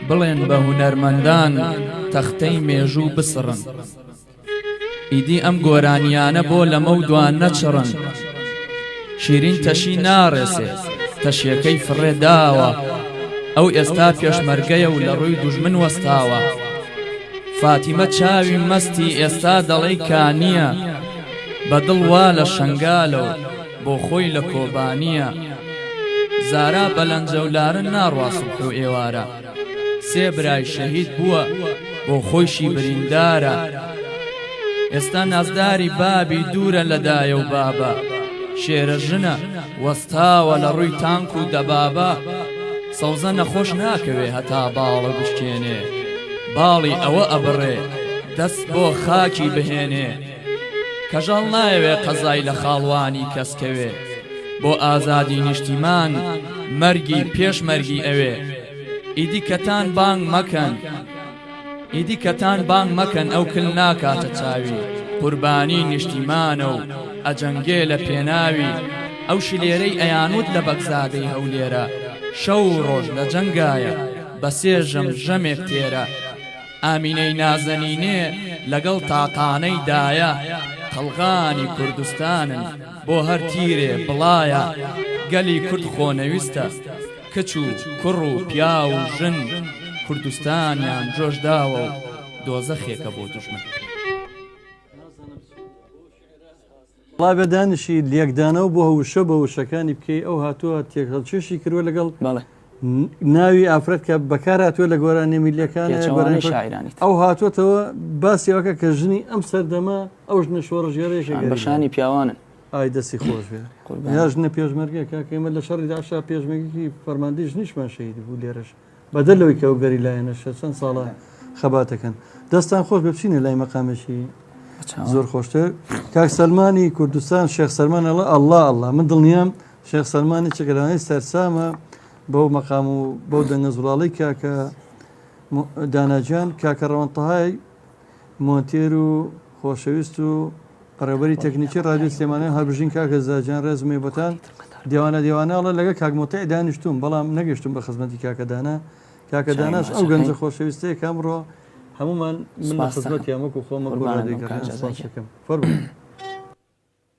بڵێن بە هونەرمەندان تەختەی مێژوو بسڕن ئیدی ئەم گۆرانیانە بۆ لەمە و دوان نەچڕن شیرین تەشی ناڕێسێ تەشیەکەی فڕێ داوە ئەو ئێستا پێشمەرگەیە و لە ڕووی دوژمن وەستاوە فاتیمە چاوی مەستی ئێستا دەڵێی کانیە بە دڵ وا لە شنگالەوە بۆ خۆی لە کۆبانییە زارا بەلەنجە و لارن ناڕواستم حو ئێوارە سێ برای شەهید بووە بۆ خۆیشی بریندارە ئێستا نازداری بابی دوورە لە دایە و بابە شێرە ژنە وەستاوە لە ڕووی تانک و دەبابە سەوزە نەخۆش ناکەوێ هەتا باڵە بشکێنێ باڵی ئەوە ئەبڕێ دەست بۆ خاکی بهێنێ کەژاڵ نایەوێ قەزای لە خاڵوانی کەس کەوێ بۆ ئازادی نیشتیمان مەرگی پێش مەرگی ئەوێ ئیدی کەتان بانگ مەکەن ئیدی کەتان بانگ مەکەن ئەو کل ناکاتە چاوی قوربانی نیشتیمانە و ئەجەنگێ لە پێناوی ئەو شلێرەی ئەیانوت لە بەگزادەی هەولێرە شەو ڕۆژ لە جەنگایە بە سێ ژەم ژەمێک تێرە ئامینەی نازەنینێ لەگەڵ تاقانەی دایە قەڵغانی کوردستانن بۆ هەر تیرێ بڵایە گەلی کورد خۆنەویستە کچ و کوڕ و پیاو و ژن کوردستانیان جۆش داوە و دۆزەخێکە بۆ دوژمن. وەڵا بێ دانشی لێکدانەوە بۆ وشە بە وشەکانی بکەی ئەو هاتووە تێکهەڵکێشی کردوە لەگەڵ بەڵێ ناوی ئافرەت کە بەکار هاتووە لە گۆرانی میلیەکان پێچەوانەی گۆرانی فەر- شاعیرانی تر. ئەو هاتووەتەوە باسیەوەکە کە ژنی ئەم سەردەمە ئەو ژنە شۆڕژێرەیەکە شان گەریلا. بەشانی پیاوانن ئای دەستی خۆش بێ قوربان. یا ژنە پێشمەرگە کاکە ئێمە لە شەڕی داشا پێشمەرگی فەرماندەی ژنیشمان شەهید بوو لێرەش بەدەر لەوەی کە ئەو گەریلایانەشە چەند ساڵە خەبات دەکەن. دەستتان خۆش بێ بچینە لای مەقامێکی زۆر خۆشتر کاک سەلمانی کوردستان شێخ سەلمان ئەڵە ئەللا ئەللا من دڵنیام شێخ سەلمانی چگەرانەی سەرسامە بەو مەقام و بەو دەنگە زوڵاڵی کاکە داناجان کاکە ڕەوەنتەهای مۆنتێر و خۆشەویست و بەڕێوبەری تەکنیکی ڕادیۆی سلێمانی هەربژین کاک هێزا گیان ڕێزم هەیە بۆتان دێوانە دێوانە ئەڵێ لەگەڵ کاک موتیع دانیشتووم بەڵام نەگەشتم بە خزمەتی کاکە دانا کاکە داناش ئەو گەنجە خۆشەویستەیە کە ئەمڕۆ هەمومان من لە خزمەتی ئەمەک و خۆمە گۆڕان دەکەم فەرموو